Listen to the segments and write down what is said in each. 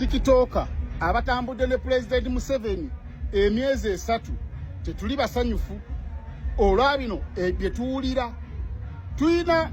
tikitooka abatambudde ne pulezidenti museveni emyezi esatu tetuli basanyufu olwa bino e, bye tuwulira tulina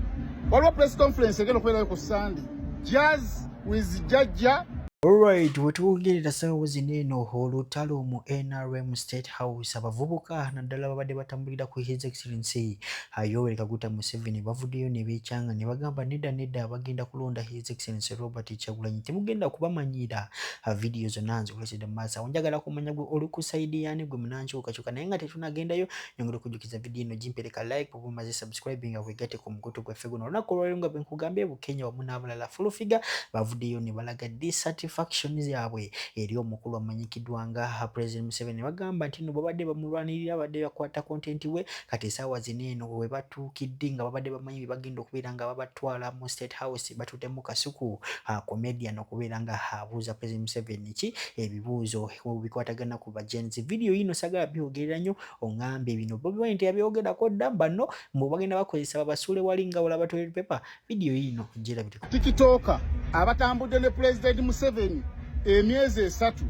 waliwo press conference egenda okubeerayo ku sande jazz with jajja Alright, wetwongerera sawo zino eno olutalo mu NRM State House abavubuka naddala babadde batambulira ku His Excellency Yoweri Kaguta Museveni bavuddeyo ne beecanga ne bagamba nedda nedda bagenda kulonda His Excellency Robert Kyagulanyi temugenda kubamanyira uh, video zonna nzikuletedde mu maaso awo njagala kumanya gwe oli ku sayidi yaani gwe munankyukakyuka naye nga tetunagendayo nyongera okujjukiza vidiyo eno gimpereka like oba omaze subscribe nga wegatte ku mukutu gwaffe guno olunaku olwaliro nga bwenkugambye bukenya wamu n'abalala fulufiga bavuddeyo ne balaga dissatisfaction yaabwe eri omukulu amanyikiddwa nga uh, president museveni ne bagamba nti no babadde bamulwanirira abadde bakwata kontenti we kati esaawa zino eno webatuukidde nga babadde tebamanyi byebagenda okubeera nga babatwala mu state house batudemu kasuku ah, comedian okubeera nga abuuza president museveni ki ebibuuzo bikwatagana ku bagenzi video yino sagala byogerera nyo ongambe bino bobi wine teyabyogerako dda banno mbu bagenda bakozesa babasuule wali nga olaba toilet paper video yino jera Tikitooka abatambudde ne Pulezidenti Museveni emyezi esatu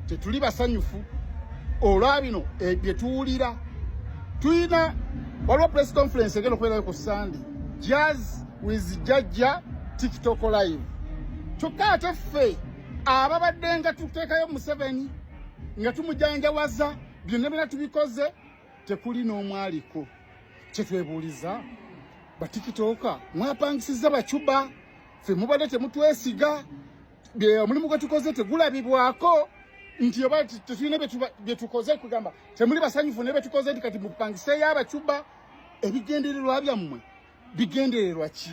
tetuli basanyufu olwa bino eh, bye tuwulira tulina waliwo press conference egenda okubeerayo ku sande jazz with jajja tiktok live kyokka ate ffe ababadde nga tuteekayo museveni nga tumujanjawaza byonna byona tubikoze tekuli n'omu aliko kyetwebuuliza batikitooka mwapangisiza bacuba fe mubadde temutwesiga omulimu gwe tukoze tegulabibwako nti oba tetulina byetukoze kugamba temuli basanyufu ne betukoze nti kati mupangiseyo abacuba ebigendererwa byammwe bigendererwa ki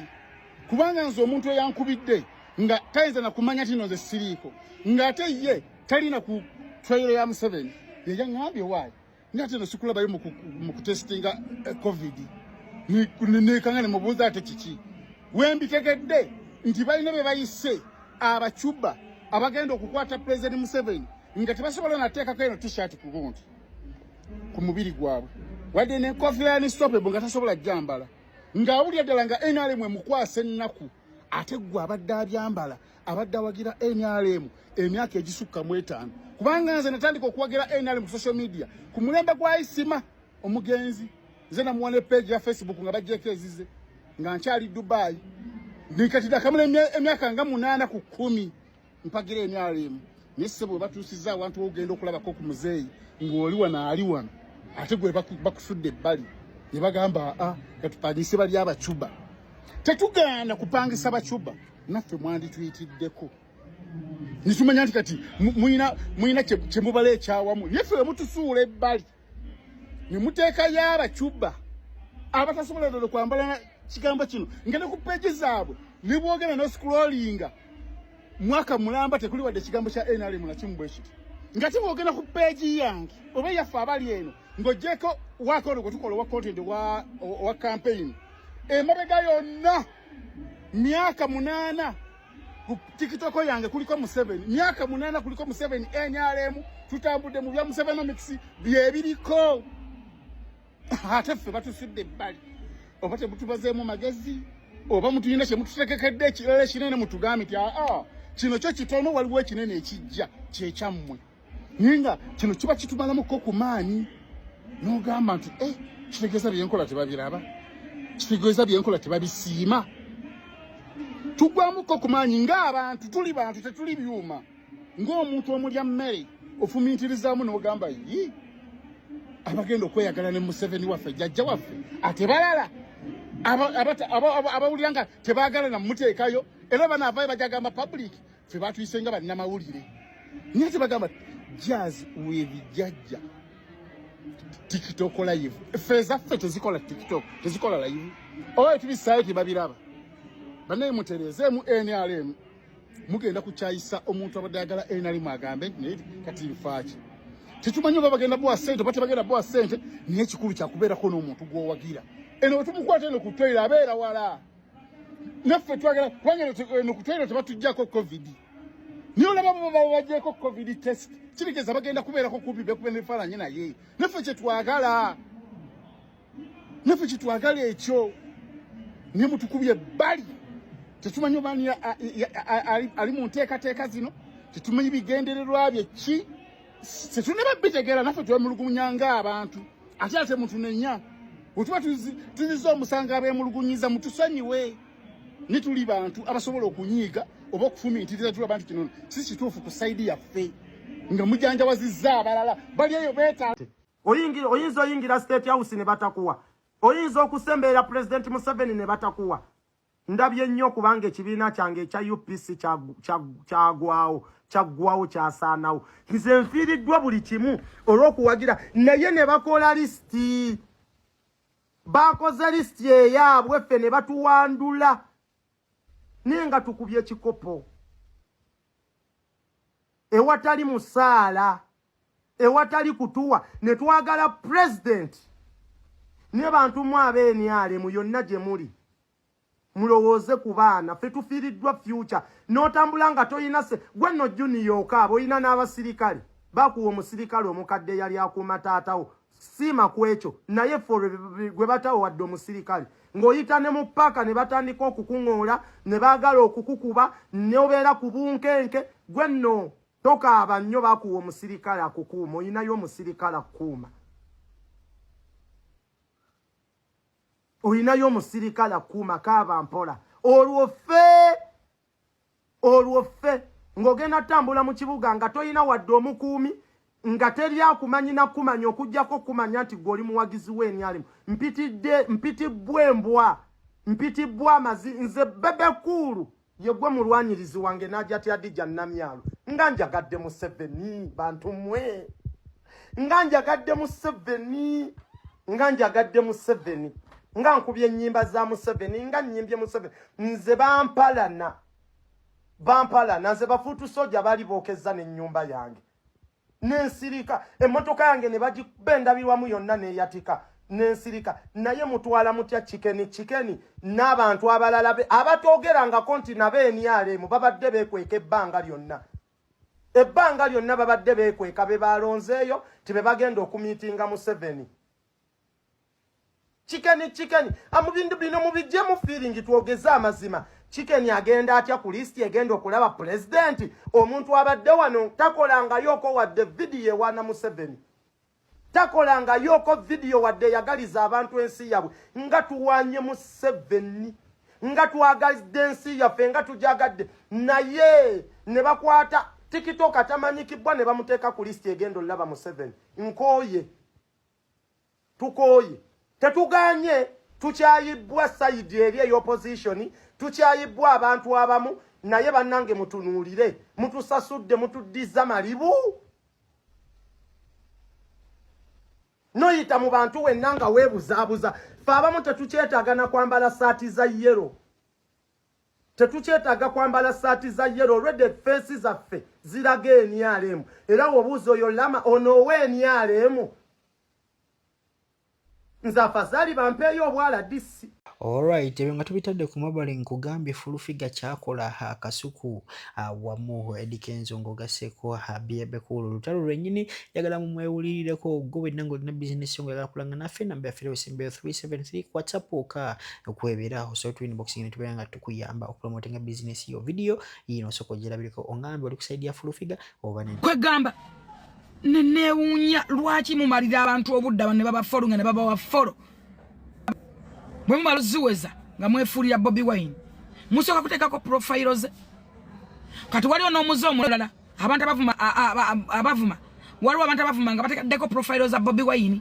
kubanga nze omuntu eyankubidde nga tayinza nakumanya tino nze siriiko ng'ate ye talina ku twayiro ya museveni yeyaŋambye waayo naye ate no sikulabayo mu kutesitinga eh, covid nekanga nemubuuza ate kiki wembitegedde nti balina bye bayise abacuba abagenda okukwata pulezidenti museveni nga tebasobola nateekako eno tishati kugundi ku mubiri gwabwe wadde nenkofiira yani stopebo nga tasobola jambala ngaawulira ddala nga nrm emukwasa ennaku ate gwe abadde abyambala abadde awagira nrm emyaka egisukka mu etaano kubanga nze natandika okuwagira nrm ku social media ku mulembe gwa isima omugenzi nze namuwa ne peegi ya facebook nga bajjeeko ezize nga nkyali dubayi nikatidakamula emyaka nga munaana ku kumi mpagira nrm naye ssebo webatuusiza awantu wogenda okulabako ku muzeeyi ng'oli wano ali wano ate gwe bakusudde ebbali ne bagamba a ah, katupangise bali abacuba tetugaana kupangisa bacuba naffe mwandituyitiddeko nitumanya nti kati muyina kyemubala ekyawamu naye ffe wemutusuula ebbali nemuteekayo abacuba abatasobola dodo kwambala kigambo kino nga ne ku peegi zaabwe nebwogenda nosikulolinga mwaka mulamba tekuli wadde ekigambo kya nrm nakimu bwe kiti nga tibwogenda ku peegi yange oba yaffe abali eno ng'ogyeko wakono gwe tukola owa content owa campaign emabega yonna myaka munana ku tikitoko yange kuliko museveni myaka munana kuliko museveni nrm tutambudde mu bya musevenomics byebiriko ate ffe batusudde ebbali oba temutubazeemu magezi oba mutuyina kyemututekekedde ekirala ekinene mutugambe ti aa kino kyo kitono waliwo ekinene ekijja kyekyammwe naye nga kino kiba kitumalamuko ku maanyi n'ogamba nti e kitegeeza byenkola tebabiraba kitegeeza byenkola tebabisiima tugwamuko ku maanyi ng'abantu tuli bantu tetuli byuma ng'omuntu omulya mmere ofumintirizaamu n'ogamba yi abagenda okweyagala ne museveni waffe jajja waffe ate balala abawulira nga tebaagala namuteekayo era banaavayo bajagamba public ffe batuyise nga bannamawulire naye ate bagamba jazz webijajja tiktok live ffe ezaffe tezikola tiktok tezikola live oyo tubisaayo tebabiraba banaye mutereezeemu nrm mugenda kukyayisa omuntu abadde ayagala nrm agambe naye kati nfaaki tetumanyi oba bagenda bowa sente oba tebagenda bowa sente naye ekikulu kyakubeerako n'omuntu gwowagira eno wetumukwata eno ku toyiro abeera wala naffe twagala kubanga eno kutwera tebatujjako covid niyo olaba babajeko covid test kibigeza bagenda kubeerako kubi bekuba nebifaananyi naye naffe kyetwagala naffe kyetwagala ekyo naye mutukubye bali tetumanyi obaani ali mu nteekateeka zino tetumanyi bigendererwa bye ki tetunaba bitegera naffe twemulugunya nga abantu ate ate mutunenya wetuba tuziza omusango abemulugunyiza mutusonyiwe nituli bantu abasobola okunyiiga oba okufumiitiriza tulaba nti kino si kituufu ku saidi yaffe nga mujanjawazizza abalala bali eyo beta oyinza oyingira state house ne batakuwa oyinza okusembeera pulezidenti museveni ne batakuwa Ndabye nnyo kubanga ekibiina kyange ekya UPC kyagwawo kyaggwawo kyasaanawo nze nfiiriddwa buli kimu olw'okuwagira naye ne bakola lisiti baakoze lisiti eyaabwe ffe ne batuwandula naye nga tukubye ekikopo ewatali musaala ewatali kutuwa ne twagala president ne bantu mu abeeniale mu yonna gye muli mulowooze ku baana ffe tufiiriddwa future n'otambula nga tolina se gwe nno juniya okaaba olina n'abasirikale bakuwa omusirikale omukadde eyali akuuma taatawo siima ku ekyo naye ffe gwe batawo wadde omusirikale ng'oyita ne mu paaka ne batandika okukuŋoola ne baagala okukukuba neobeera ku bunkenke gwe nno Tokaaba nnyo bakuwa omusirikale akukuuma olinayo omusirikale akukuuma olinayo omusirikale akukuuma kaaba mpola olwo ffe olwo ffe ng'ogenda tambula mu kibuga nga tolina wadde omukuumi nga teri akumanyi nakumanya okujjako okumanya nti gwe oli muwagizi w'enyalimu mpitidde mpitibbwa embwa mpitibbwa amazi nze bebekuulu Yegwe mulwanyirizi wange najati adija namyalo nga njagadde mu seveni bantu mwe nga njagadde mu seveni nga njagadde mu seveni nga nkubye ennyimba za museveni nga nnyimbye museveni nze bampalana bampalana nze bafuutu soja baali bookezza n'ennyumba yange nensirika emmotoka yange ne bagikuba endabirwamu yonna neeyatika nensirika naye mutwala mutya kikeni kikeni n'abantu abalala be abatoogerangako nti nabo enialeemu babadde beekweka ebbanga lyonna ebbanga lyonna babadde beekweka be balonzeeyo ti be bagenda okumiitinga museveni Chicken chicken amubindu bino mubijje mu feeling twogeze amazima chicken agenda atya ku list egenda okulaba president omuntu abadde wano takola nga yoko wadde video wana museveni takola nga yoko video wadde yagaliza abantu ensi yabwe nga tuwanye museveni nga twagalidde ensi yaffe nga tujagadde naye ne bakwata tikitoka tamanyikibwa ne bamuteeka ku list egenda olulaba museveni nkooye tukooye tetuganye tukyayibbwa sayidi eri eyopozisioni tukyayibbwa abantu abamu naye bannange mutunuulire mutusasudde mutuddiza malibu noyita mu bantu wenna nga weebuzaabuza fe abamu tetukyetaaga na kwambala saati za yero Tetukyetaaga kwambala ssaati za yero olwedde ffeesi zaffe ziraga enyalemu era wobuuza oyo lama onoowa enyalemu nze afazaali bampeeyo obwala disi Alright, ebyo nga tubitadde ku mabale nkugambye fulufiga kyakola akasuku awamu Eddy Kenzo ng'ogasseeko Bebe Cool olutalo lwennyini njagala mu mwewulirireko gwe wenna ng'olina bizinesi yo ng'oyagala kulanga naffe namba yaffe erewesembeyo 373 ku whatsapp oka okuwebeeraho so tuli inbox ino tubeera nga tukuyamba okupromotinga bizinesi yo vidiyo yino osooka ogirabireko ongambe oli kusaidi ya fulufiga oba ne kwegamba neneewuunya lwaki mumalira abantu obudde abantu ne babafolo nga ne babawa folo bwe mumala oziweza nga mwefuulira bobi wine musooka kuteekako profayiro ze kati waliwo n'omuze omulala abantu abavuma abavuma waliwo abantu abavuma nga bateekaddeko profile za bobi wayini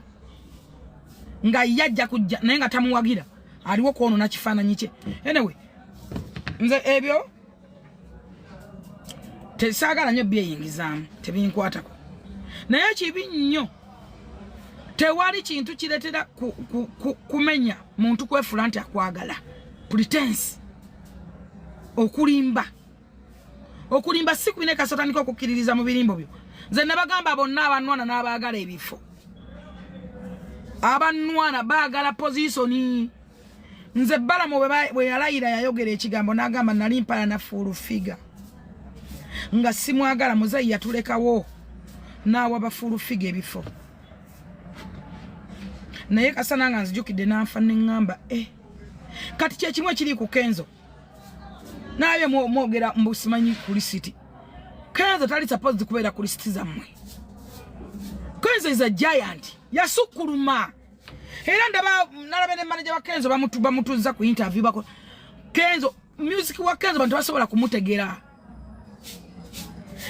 nga ye ajja kujja naye nga tamuwagira aliwo kwonona kifaananyi kye anyway nze ebyo tesaagala nyo byeyingizaamu tebinkwatako naye kibi nnyo tewali kintu kiretera kumenya muntu kwefula nti akwagala pretense okulimba okulimba si kubi ne kasotandika okukkiririza mu birimbo byo nze nabagamba bonna abanwana n'abaagala ebifo abanwana baagala pozisoni nze balamu bwe yalayira yayogera ekigambo n'agamba nali mpala na fuulu figa nga simwagala muzeeyi yatulekawo n'awa bafuulu figa ebifo naye kasana nga nzijukidde n'anfa neŋŋamba e eh. kati kyekimu ekiri ku kenzo naye mwogera mbu simanyi kulisiti kenzo tali supposed kubeera kulisiti zammwe kenzo is a giant yasukkuluma era ndaba nalabe ne manaja wa kenzo bamutuzza ku interview bako kenzo music wa kenzo bantu basobola kumutegera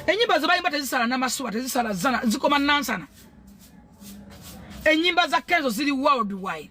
enyimba zebayimba tezisala namasuba tezisala zana zikoma nansana enyimba za kenzo ziri worldwide